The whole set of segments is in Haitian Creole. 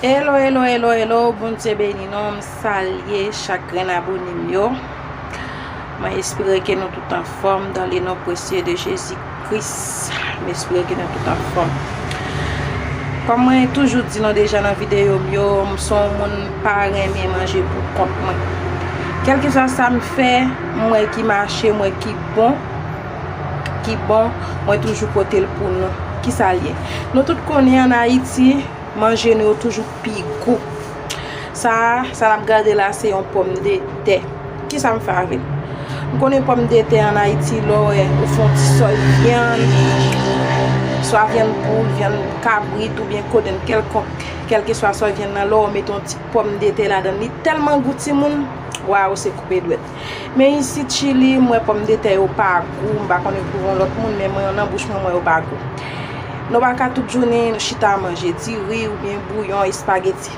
Hello hello hello hello Bndye beni nou m salye chak grenn abone m yo mwen espere ke nou tout anfom dan le non presye de jezi kris m espere ke nou tout anfom kom mwen toujou di nou deja nan video m yo m son moun pa renmen manje pou kont mwen kelkeswa sa m fè m wè ki mache m wè ki bon ki bon, mwen toujou pote l pou nou. Ki sa l ye? Nou tout konnen an Ayiti, manje nou yo toujou pi gou. Sa a, sa n ap gade la a, se yon pòm de tè. Ki sa m fè avè l? M konnen pòm de tè an Ayiti, lè w wè, ou fè yon ti sòs vyann, swa vyann poul, vyann kabrit oubyen kodenn kèlkonk, kèlkeswa sòs vyann nan, lè w mete yon ti pòm de tè ladan l, li tèlman gou timoun, waww se koupe dwèt. Men isit chili m wè pòm de tè yo pa gou m pa konnen pou yon lòt moun men mwen yo nan bouch mwen m wè yo pa gou nou pa ka tout jounen chita manje diri ou byen bouyon espageti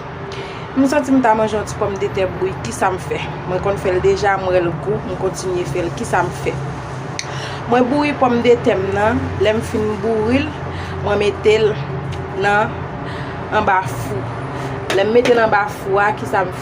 m santi m ta manje yon ti pòm de tè bri kisa m fè mwen konn fèl deja m wèl gou m kontinye fèl kisa m fè mwen bouri pòm de tè m nan lè m fin bouril mwen metel nan anba fou lè m metel anba fou a kisa m fè.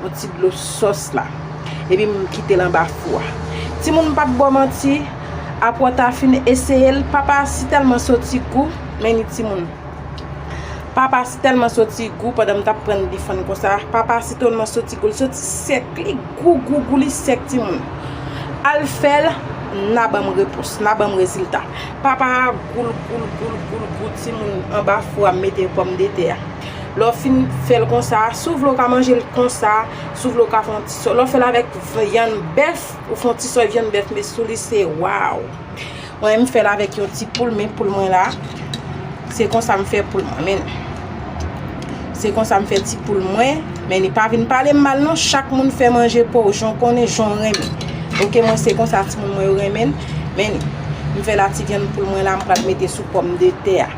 Yon ti dlo sòs la. Epi m kite l anba fou a. Timoun m pap ba w manti, apre w ta fin eseye l, papa si tèlman soti gou, men ni timoun. Papa si tèlman soti gou pandan m tap prann difann konsa, papa si tèlman soti gou, l soti sèk, li gou gou gou li sèk timoun. Al fè l, nan ban m repons, nan ban m rezilta. Papa a gou l gou l gou l gou l gou timoun anba fou a m mete pòmdetè a. Lè w fin fè l konsa, si w vle w ka manje l konsa, si w vle w ka fè yon ti sòs. Lè w fè l avèk vyann bèf, ou fè yon ti sòs vyann bèf met sou li se waww. Mwen menm m fè l avèk yon ti poul, men poul mwen la. Se konsa m fè poul mwen men. Se konsa m fè ti poul mwen. Men ni pa vin pale m mal non, chak moun fè manje pa w jan w konnen, jan w renmen. Ok mwen se konsa ti moun mwen yo renmen l. Men ni, m fè la ti vyann poul mwen la m pral mete sou pòm de tè a.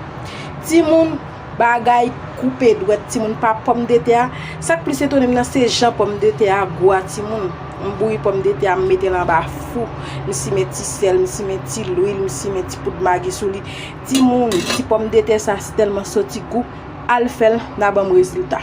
Ti moun. Bagay koupe dwèt timoun pa pòmdetè a, sak plis etonem nan se jan pòmdetè a gou a timoun, m bouyi pòmdetè a m metel anba fou, m simen ti sèl, m simen ti lwil, m simen ti poud magi sou li, timoun ti pòmdetè sa sitèlman soti gou, al fèl nan banm rezilta.